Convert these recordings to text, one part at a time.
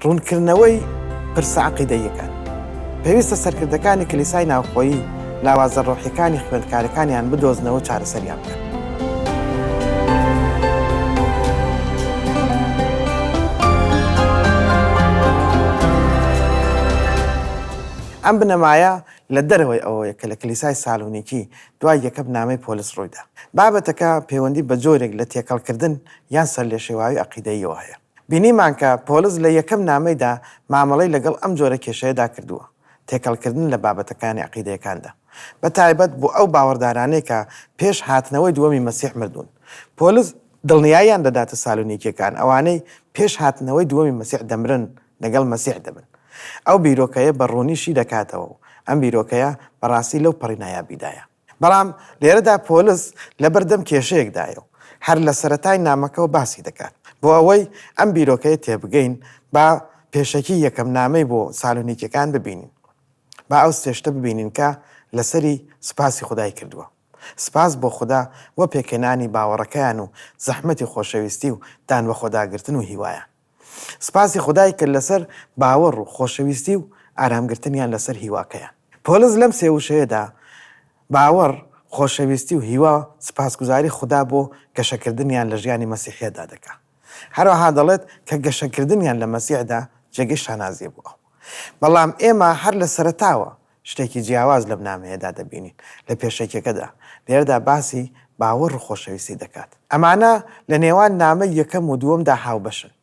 ڕوونکردنەوەی پرسە عەقیدەییەکان، پێویستە سەرکردەکانی کلیسای ناوخۆیی لاوازە ڕۆحیەکانی خوێندکارەکانیان بدۆزنەوە و چارەسەریان بکەن. ئەم بنەمایە لە دەرەوەی ئەوەی کە لە کلیسای سالونیکی دوای یەکەم نامەی پۆلس ڕوویدا، بابەتەکە پەیوەندی بە جۆرێک لە تێکەڵکردن یان سەرلێشێواوی عەقیدەییەوە هەیە. بینیمان کە پۆلس لە یەکەم نامەیدا مامەڵەی لەگەڵ ئەم جۆرە کێشەیەدا کردووە، تێکەڵکردن لە بابەتەکانی عەقیدەیەکاندا، بە تایبەت بۆ ئەو باوەڕدارانەی کە پێش هاتنەوەی دووەمی مەسیح مردوون. پۆلس دڵنیاییان دەداتە سالونیکییەکان، ئەوانەی پێش هاتنەوەی دووەمی مەسیح دەمرن، لەگەڵ مەسیح دەبن. ئەو بیرۆکەیە بە ڕوونی شی دەکاتەوە و ئەم بیرۆکەیە بەڕاستی لەو پەڕی نایابیدایە. بەڵام لێرەدا پۆلس لەبەردەم کێشەیەکدایە و هەر لە سەرەتای نامەکەوە باسی دەکات. بۆ ئەوەی ئەم بیرۆکەیە تێبگەین، با پێشەکیی یەکەم نامەی بۆ سالۆنیکییەکان ببینین. با ئەو سێ شتە ببینین کە لەسەری سوپاسی خودای کردووە، سوپاس بۆ خودا بۆ پێکهێنانی باوەڕەکەیان و زەحمەتی خۆشەویستی و دانبەخۆداگرتن و هیوایان. سپاسی خودای کرد لەسەر باوەڕ و خۆشەویستی و ئارامگرتنیان لەسەر هیواکەیان. پۆلس لەم سێ وشەیەدا، باوەڕ، خۆشەویستی و هیوا، سپاسگوزاری خودا بۆ گەشەکردنیان لە ژیانی مەسیحییەتدا دەکات. هەروەها دەڵێت کە گەشەکردنیان لە مەسیحدا جێگەی شانازییە بۆ ئەو. بەڵام ئێمە هەر لە سەرەتاوە شتێکی جیاواز لەم نامەیەدا دەبینین، لە پێشەکیەکەدا، لێرەدا باسی باوەڕ و خۆشەویستی دەکات. ئەمانە لە نێوان نامەی یەکەم و دووەمدا هاوبەشن.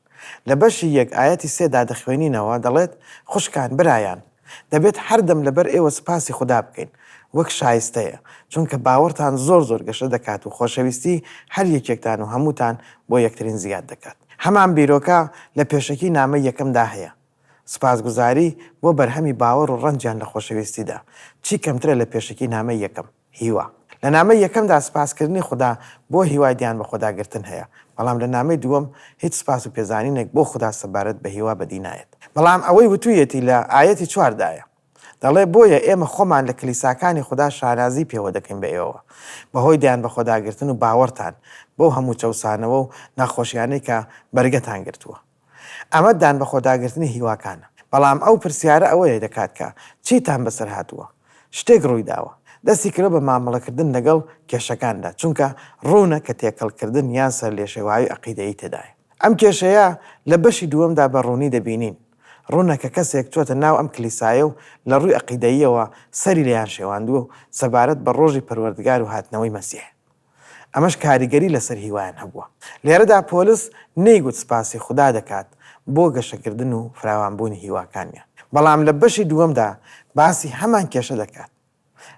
لە بەشی یەک ئایەتی سێ دا دەخوێنینەوە، دەڵێت، خوشکان، برایان، دەبێت هەردەم لەبەر ئێوە سوپاسی خودا بکەین، وەک شایستەیە، چونکە باوەڕتان زۆر زۆر گەشە دەکات و خۆشەویستی هەر یەکێکتان و هەمووتان بۆ یەکترین زیاد دەکات. هەمان بیرۆکە لە پێشەکی نامەی یەکەمدا هەیە. سوپاسگوزاری بۆ بەرهەمی باوەڕ و ڕەنجیان لە خۆشەویستیدا، چی کەمترە لە پێشەکی نامەی یەکەم، هیوا. لە نامەی یەکەمدا سوپاسکردنی خودا بۆ هیوای دیان بەخۆداگرتن هەیە، بەڵام لە نامەی دووەم هیچ سوپاس و پێزانینێک بۆ خودا سەبارەت بە هیوا بەدی نایەت. بەڵام ئەوەی وتوویەتی لە ئایەتی چوار دایە. دەڵێ، بۆیە ئێمە خۆمان لە کلیساکانی خودا شانازی پێوە دەکەین بە ئێوەوە، بەهۆی دیان بەخۆداگرتن و باوەڕتان، بەو هەموو چەوسانەوە و ناخۆشیانەی کە بەرگەتان گرتووە. ئەمە دان بەخۆداگرتنی هیواکانە. بەڵام ئەو پرسیارە ئەوەیە دەکات کە، چیتان بەسەر هاتووە؟ شتێک ڕوویداوە؟ دەستی کرۆ بە مامەڵەکردن لەگەڵ کێشەکاندا، چونکە ڕوونە کە تێکەڵکردن یان سەرلێشێواوی عەقیدەیی تێدایە. ئەم کێشەیە لە بەشی دووەمدا بە ڕوونی دەبینین. ڕوونە کە کەسێک چۆتە ناو ئەم کلیسایە و لە ڕووی عەقیدەییەوە سەری لێیان شێواندووە و سەبارەت بە ڕۆژی پەروەردگار و هاتنەوەی مەسیح، ئەمەش کاریگەری لەسەر هیوایان هەبووە. لێرەدا پۆلس نەیگوت سپاسی خودا دەکات بۆ گەشەکردن و فراوانبوونی هیواکانیان، بەڵام لە بەشی دووەمدا باسی هەمان کێشە دەکات.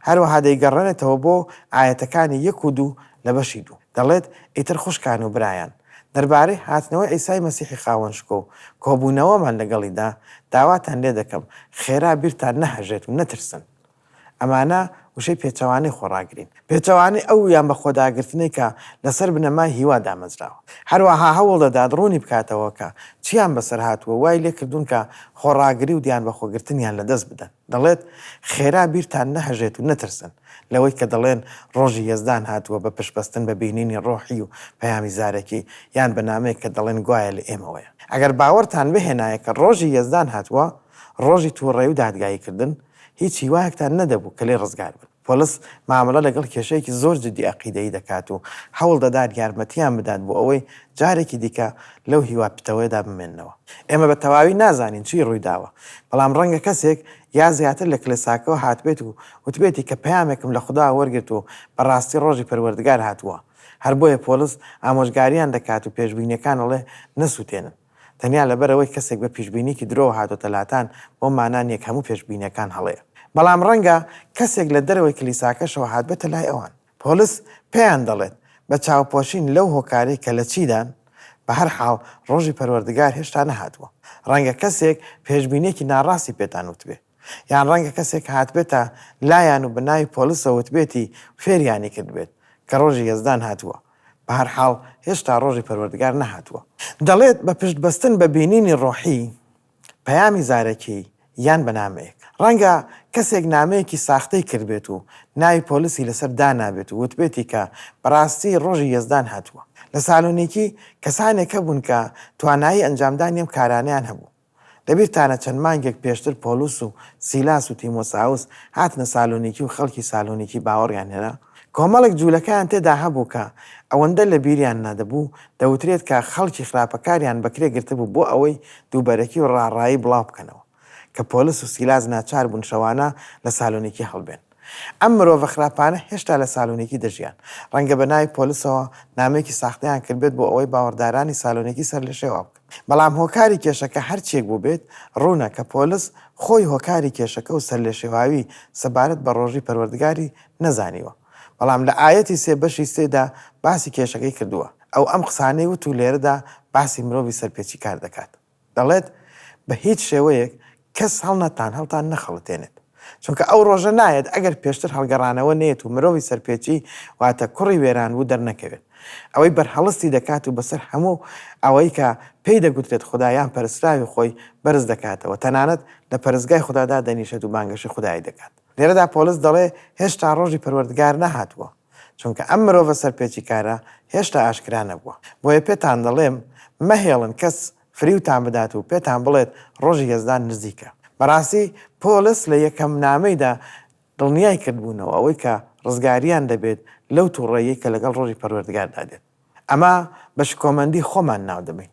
هەروەها دەیگەڕێنێتەوە بۆ ئایەتەکانی یەک و دوو لە بەشی دوو، دەڵێت، ئیتر خوشکان و برایان، دەربارەی هاتنەوەی عیسای مەسیحی خاوەن شکۆ و کۆبوونەوەمان لەگەڵیدا، داواتان لێ دەکەم خێرا بیرتان نەهەژێت و نەترسن، ئەمانە وشەی پێچەوانەی خۆڕاگرین، پێچەوانەی ئەو یان بەخۆداگرتنەی کە لەسەر بنەمای هیوا دامەزراوە. هەروەها هەوڵ دەدات ڕوونی بکاتەوە کە چییان بەسەر هاتووە و وای لێ کردوون کە خۆڕاگری و دیانبەخۆگرتنیان لە دەست بدەن. دەڵێت، خێرا بیرتان نەهەژێت و نەترسن لەوەی کە دەڵێن ڕۆژی یەزدان هاتووە بە پشتبەستن بە بینینی ڕۆحی و پەیامی زارەکی، یان بە نامەیەک کە دەڵێن گوایە لە ئێمەوەیە. ئەگەر باوەڕتان بهێنایە کە ڕۆژی یەزدان هاتووە، ڕۆژی تووڕەیی و دادگاییکردن، هیچ هیوایەکتان نەدەبوو کە لێ ڕزگار بن. پۆلس مامەڵە لەگەڵ کێشەیەکی زۆر جدی ئەقیدەیی دەکات و هەوڵ دەدات یارمەتییان بدات بۆ ئەوەی جارێکی دیکە لەو هیوا پتەوەیەدا بمێننەوە. ئێمە بە تەواوی نازانین چی ڕووی داوە، بەڵام ڕەنگە کەسێک یا زیاتر لە کڵێساکەوە هاتبێت و وتبێتی کە پەیامێکم لە خوداوە وەرگرت و بە ڕاستی ڕۆژی پەروەردگار هاتووە. هەر بۆیە پۆلس ئامۆژگارییان دەکات و پێشبینییەکان ئەڵێ نەسووتێنن. تەنیا لەبەرئەوەی کەسێک بە پیشبینیەکی درۆوە هاتۆتە لاتان بەو مانا نیە کە هەموو پێشبینیەکان هەڵەیە بەڵام ڕەنگە کەسێک لە دەرەوەی کلیساکەشەوە هاتبێتە لای ئەوان پۆلس پێیان دەڵێت بە چاوپۆشین لەو هۆکارەی کە لە چیدان بەهەرحاڵ ڕۆژی پەروەردگار هێشتا نەهاتووە ڕەنگە کەسێک پێشبینیەکی ناڕاستی پێتان وتبێ یان ڕەنگە کەسێک هاتبێتە لایان و بە ناوی پۆلسەوە وتبێتی فێریانی کردبێت کە ڕۆژی یەزدان هاتووە. بە هەر حاڵ هێشتا ڕۆژی پەروەردگار نەهاتووە. دەڵێت، بە پشت بەستن بە بینینی ڕۆحی، پەیامی زارەکی، یان بە نامەیەک. ڕەنگە کەسێک نامەیەکی ساختەی کردبێت و ناوی پۆلسی لەسەر دانابێت و وتبێتی کە بە ڕاستی ڕۆژی یەزدان هاتووە. لە سالۆنیکی کەسانێک هەبوون کە توانایی ئەنجامدانی ئەم کارانەیان هەبوو. لەبیرتانە چەند مانگێک پێشتر پۆلوس و سیلاس و تیمۆساوس هاتنە سالۆنیکی و خەڵکی سالۆنیکی باوەڕیان هێنا؟ کۆمەڵێک جوولەکەیان تێدا هەبوو کە ئەوەندە لەبیریان نەدەبوو، دەوترێت کە خەڵکی خراپەکاریان بەکرێ گرتبوو بۆ ئەوەی دووبەرەکی و ڕاڕایی بڵاو بکەنەوە کە پۆلوس و سیلاس ناچار بوون شەوانە لە سالۆنیکی هەڵبێن. ئەم مرۆڤە خراپانە هێشتا لە سالۆنیکی دەژیان. ڕەنگە بە ناوی پۆلوسەوە نامەیەکی ساختەیان کردبێت بۆ ئەوەی باوەڕدارانی سالۆنیکی سەرلێشێوا بکەن. بەڵام هۆکاری کێشەکە هەرچیەک بووبێت، ڕوونە کە پۆلس خۆی هۆکاری کێشەکە و سەرلێشێواوی سەبارەت بە ڕۆژی پەروەردگاری نەزانیوە. بەڵام لە ئایەتی سێ بەشی سێدا باسی کێشەکەی کردووە. ئەو ئەم قسانەی وت و لێرەدا باسی مرۆڤی سەرپێچیکار دەکات. دەڵێت، بە هیچ شێوەیەک کەس هەڵنەتان هەڵتان نەخەڵەتێنێت، چونکە ئەو ڕۆژە نایەت ئەگەر پێشتر هەڵگەڕانەوە نەیەت و مرۆڤی سەرپێچی واتە کوڕی وێرانبوو دەرنەکەوێت. ئەوەی بەرهەڵستی دەکات و بەسەر هەموو ئەوەی کە پێی دەگوترێت خودا یان پەرستراوی خۆی بەرز دەکاتەوە، تەنانەت لە پەرستگای خودا دادەنیشێت و بانگەشەی خودایی دەکات. لێرەدا پۆلس دەڵێ هێشتا ڕۆژی پەروەردگار نەهاتووە، چونکە ئەم مرۆڤە سەرپێچیکارە هێشتا ئاشکرا نەبووە. بۆیە پێتان دەڵێم مەهێڵن کەس فریوتان بدات و پێتان بڵێت ڕۆژی یەزدان نزیکە. بەڕاستی پۆلس لە یەکەم نامەیدا دڵنیای کردبوونەوە ئەوەی کە ڕزگاریان دەبێت لەو توڕەییەی کە لەگەڵ ڕۆژی پەروەردگاردا دێت. ئەمە بە شکۆمەندی خۆمان ناو دەبەین.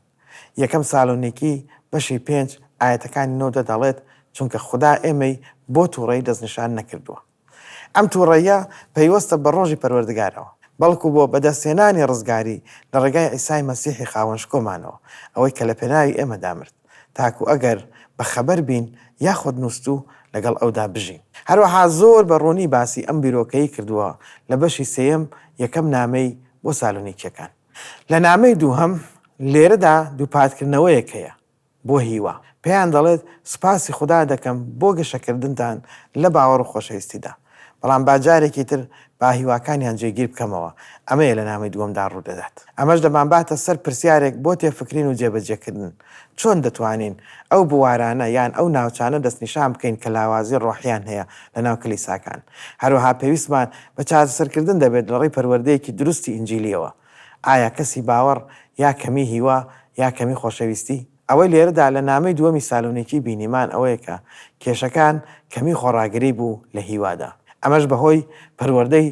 یەکەم سالۆنیکی بەشی پێنج ئایەتەکانی نۆ و دە دەڵێت چونکە خودا ئێمەی بۆ توڕەیی دەستنیشان نەکردووە. ئەم تووڕەییە پەیوەستە بە ڕۆژی پەروەردگارەوە، بەڵکو بۆ بەدەستهێنانی ڕزگاری لە ڕێگای عیسای مەسیحی خاوەن شکۆمانەوە، ئەوەی کە لە پێناوی ئێمەدا مرد، تاکو ئەگەر بە خەبەر بین یاخود نووستوو لەگەڵ ئەودا بژین. هەروەها زۆر بە ڕوونی باسی ئەم بیرۆکەی کردووە لە بەشی سێیەم یەکەم نامەی بۆ سالۆنیکییەکان. لە نامەی دووهەم، لێرەدا دووپاتکردنەوەیەک هەیە بۆ هیوا پێیان دەڵێت سوپاسی خودا دەکەم بۆ گەشەکردنتان لە باوەڕ و خۆشەویستیدا، بەڵام با جارێکی تر با هیواکانیان جێگیر بکەمەوە، ئەمەیە لە نامەی دووەمدا ڕوودەدات. ئەمەش دەمانباتە سەر پرسیارێک بۆ تێفکرین و جێبەجێکردن، چۆن دەتوانین ئەو بوارانە یان ئەو ناوچانە دەستنیشان بکەین کە لاوازی ڕۆحییان هەیە لەناو کلیساکان؟ هەروەها پێویستمان بە چارەسەرکردن دەبێت لەڕێی پەروەردەیەکی دروستی ئینجیلییەوە، ئایا کەسی باوەڕ یا کەمی هیوا یا کەمی خۆشەویستی؟ ئەوەی لێرەدا لە نامەی دووەمی سالۆنیکی بینیمان ئەوەیە کە کێشەکان کەمی خۆڕاگری بوو لە هیوادا، ئەمەش بەهۆی پەروەردەی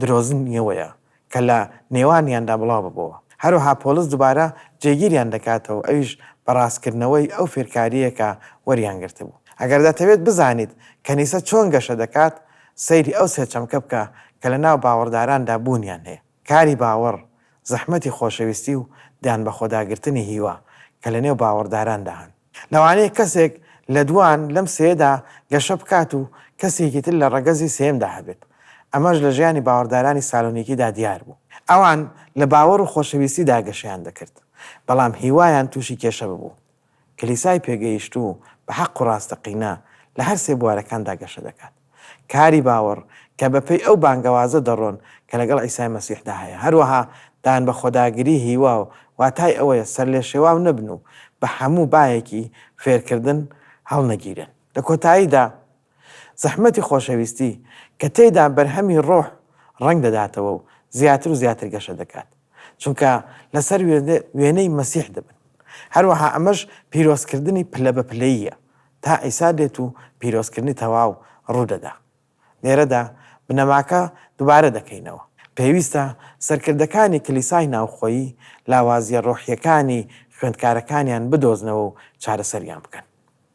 درۆزنیەوەیە کە لە نێوانیاندا بڵاو ببۆوە. هەروەها پۆڵس دوبارە جێگیریان دەکاتەوە ئەویش بە ڕاستکردنەوەی ئەو فێرکاریەیە کە وەریان گرتبوو. ئەگەر دەتەوێت بزانیت کەنیسە چۆن گەشە دەکات، سەیری ئەو سێ چەمکە بکە کە لە ناو باوەڕداراندا بوونیان هەیە. کاری باوەڕ، زەحمەتی خۆشەویستی و دانبەخۆداگرتنی هیوا کە لەنێو باوەڕداراندا هەن. لەوانەیە کەسێک لە دووان لەم سێیەدا گەشە بکات و کەسێکی تر لە ڕەگەزی سێیەمدا هەبێت. ئەمەش لە ژیانی باوەڕدارانی سالۆنیکیدا دیار بوو. ئەوان لە باوەڕ و خۆشەویستیدا گەشەیان دەکرد، بەڵام هیوایان تووشی کێشە ببوو. کلیسای پێگەیشتوو بە حەق و ڕاستەقینە لە هەر سێ بوارەکاندا گەشە دەکات. کاری باوەڕ کە بەپێی ئەو بانگەوازە دەڕۆن کە لەگەڵ عیسای مەسیحدا هەیە، هەروەها دانبەخۆداگری هیوا و واتای ئەوەیە سەرلێشێواو نەبن و بە هەموو بایەکی فێرکردن هەڵنەگیرێن. لە کۆتاییدا، زەحمەتی خۆشەویستی کە تێیدا بەرهەمی ڕۆح ڕەنگ دەداتەوە و زیاتر و زیاتر گەشە دەکات، چونکە لەسەر وێنەی مەسیح دەبن. هەروەها ئەمەش پیرۆزکردنی پلە بە پلەییە تا عیسا دێت و پیرۆزکردنی تەواو ڕوو دەدا. لێرەدا بنەماکە دووبارە دەکەینەوە. پێویستە سەرکردەکانی کلیسای ناوخۆیی لاوازییە ڕۆحییەکانی خوێندکارەکانیان بدۆزنەوە و چارەسەریان بکەن.